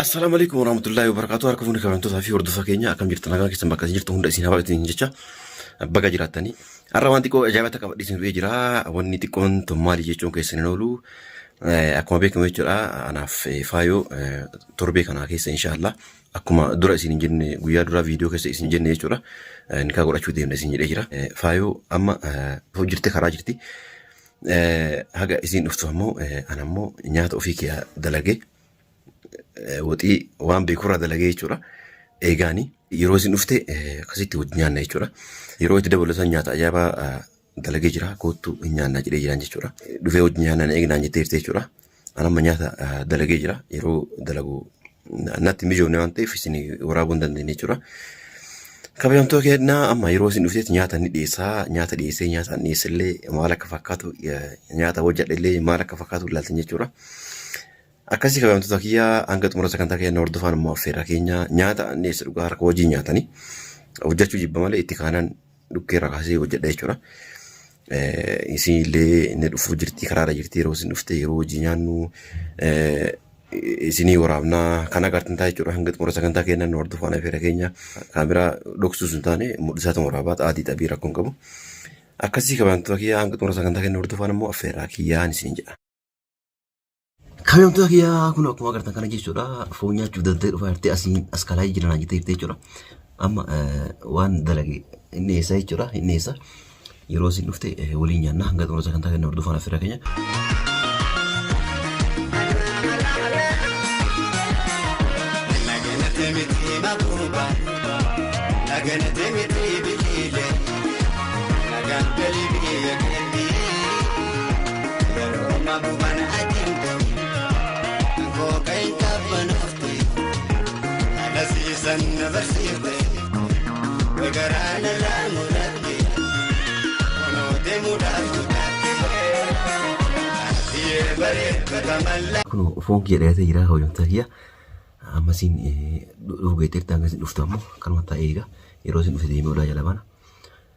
Assalaamu alaikum warahmatullahi wabarakatuh. Harka fuuni kabajamtootaa fi hordofaa keenya akkam jirtu nagaa keessan bakka isin jirtu hunda isin habaatu isin jecha baga jiraattanii. Har'a waan xiqqoo ajaa'ibaa takka badhiisin dhufee jira. Wanni xiqqoon tun maali jechuun keessan hin oolu. Eh, Akkuma beekamu jechuudha anaaf eh, faayoo eh, torbee kanaa keessa inshaallah akkuma dura isin hin jenne guyyaa duraa viidiyoo keessa isin jenne jechuudha eh, nikaa godhachuu deemna isin jedhee jira. Eh, Faayoo amma eh, hojjirte karaa jirti. Eh, Haga isin dhuftu ammoo eh, ana ammoo nyaata ofii kiyyaa dalagee. eh, waxii waan beekurraa dalagee jechuudha. Eegaanii yeroo isin dhufte eh, akkasitti wajjin nyaanna jechuudha. Yeroo itti dabalu san nyaata ajaa'ibaa eh, dalagee jira koottu hin nyaanna jedhee jiraan jechuudha. Eh, Dhufee wajjin nyaanna na eegnaan jettee jirti jechuudha. An amma nyaata eh, dalagee jira yeroo dalagu na- natti mijoofne waan ta'eef isin waraabuu hin dandeenye jechuudha. Kabajamtoo kennaa amma yeroo isin dhuftetti nyaata ni dhiyeessaa nyaata dhiyeessee nyaata dhiyeessillee maal akka fakkaatu eh, nyaata hojjedhellee maal akka fakkaatu ilaaltan jechuudha. Akkasii kabajamtoota kiyya hanga xumura sagantaa keenya hordofaan immoo affeerraa keenya nyaata anniisa dhugaa harka wajjin nyaatanii hojjechuu jibba malee itti kaanaan dhukkee irraa kaasee hojjedha jechuudha. Eh, Isin illee inni dhufuu jirti karaarra jirti yeroo isin dhufte yeroo hojii nyaannu eh, isinii waraabnaa kan agartan ta'a jechuudha hanga xumura sagantaa keenya nu hordofaan affeerra keenya kaameraa dhoksuu sun taane mul'isaa ta'uu waraabaa xaatii xabii rakkoo hin qabu. Akkasii kabajamtoota kiyya hanga xumura sagantaa keenya hordofaan immoo affeerraa kiyyaan isin jedha. Kaayyoomtoota kiyyaa kun akkuma agartan kana jechuudha. Foon nyaachuuf danda'e dhufaa jirti asiin as kalaa jiran jettee jirti jechuudha. Amma waan dalage inni eessa jechuudha inni eessa. Yeroo isin dhufte waliin nyaanna hanga xumura sagantaa kenna hordofaan affeera keenya. Thank you. Kunoo foon kiyya dhiyaatee jira hojjamtaa kiyya. Amma isin dhufu geetteerti hanga isin dhuftu ammoo kanuma taa'ee eega. Yeroo isin dhufte deemee olaa jala baana.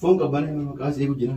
Foon qabbanee maqaa seequ jira.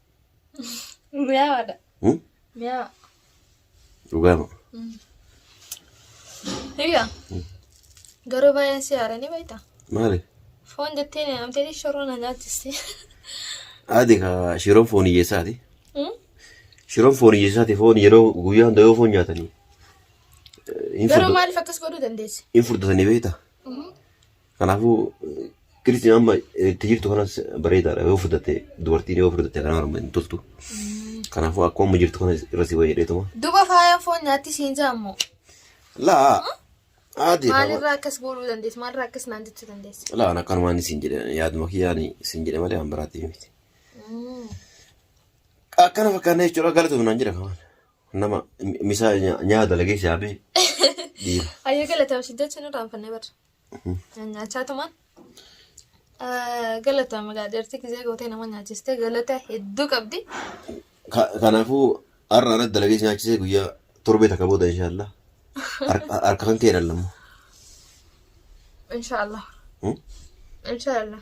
Mi'aawaadha. Hmm? Mi'aawa. Dhugaa moo? Hiriyaa. Garuu baay'een si haaranii beekta. Maali? Foon jettee na amtee shoroo na nyaachiste. Haati kaa shiroon foon hiyyeessaati. Hmm? Shiroon foon hiyyeessaati foon yeroo guyyaa hunda yoo foon nyaatanii. eh, hin Garuu furda- maaliif akkas godhuu dandeesse? Hin furdatanii beekta. Kanaafuu kirisiin amma itti jirtu kanas bareedaadha yoo fudhatte dubartiin yoo fudhatte kanaa harma hin toltu. Kanaafuu akkuma amma jirtu kana irra si wayya dheetuma. Duba faayaan foon nyaatti siin jaammo. Laa haati Maalirraa akkas gooluu dandeessi? Maalirraa akkas naan jechuu dandeessi? laa akkanumaan isin jedhe yaaduma kiyyaan isin jedhe malee waan biraatti miti. Akkana fakkaanna jechuudha galatoomnaan jedha kamaan. Nama misaa nyaa dalagee shaabee dhiira. Ayyuu galatama si jechuun irraa hanfannee barra. Nyaachaa tumaan. Galatama gaa dheertii gizee gootee nama nyaachistee galata hedduu qabdi. Ka- Kanaafuu har'a irratti dalagee si nyaachisee guyyaa torbee takka booda inshaallah harka harka kan kee dhallamu. Inshaallah. Inshaallah.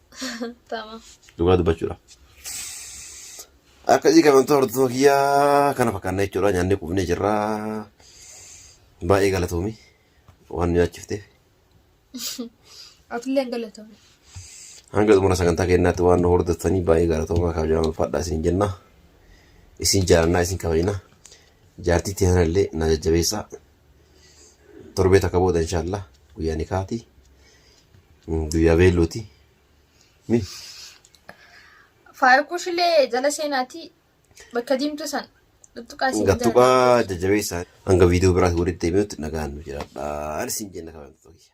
Tamam. Dhugaa dubbachuudha. Akkasii kabajamtoota hordoftoota kiyyaa kana fakkaannaa jechuudha. Nyaannee qubnee jirra. Baay'ee galatoomi waan nu nyaachifteef. Atillee galatoomi. Hanga xumura sagantaa keenyaatti waan nu hordoftanii baay'ee galatoomaa kabajamaa ulfaadhaa isin jenna. Isin jaalannaa isin kabajna. Jaartii teessan illee na jajjabeessaa. torbee takka booda inshaallah guyyaa nikaati guyyaa beelluuti mi Faayikuushilee jala seenaatii bakka diimtuu san tuttuqaa siin jala. gattuqaa jajjabeessaa hanga viidiyoo biraatti walitti deebi'utti nagaan nu jiraadha isin jenna kabajamtoota kiyya.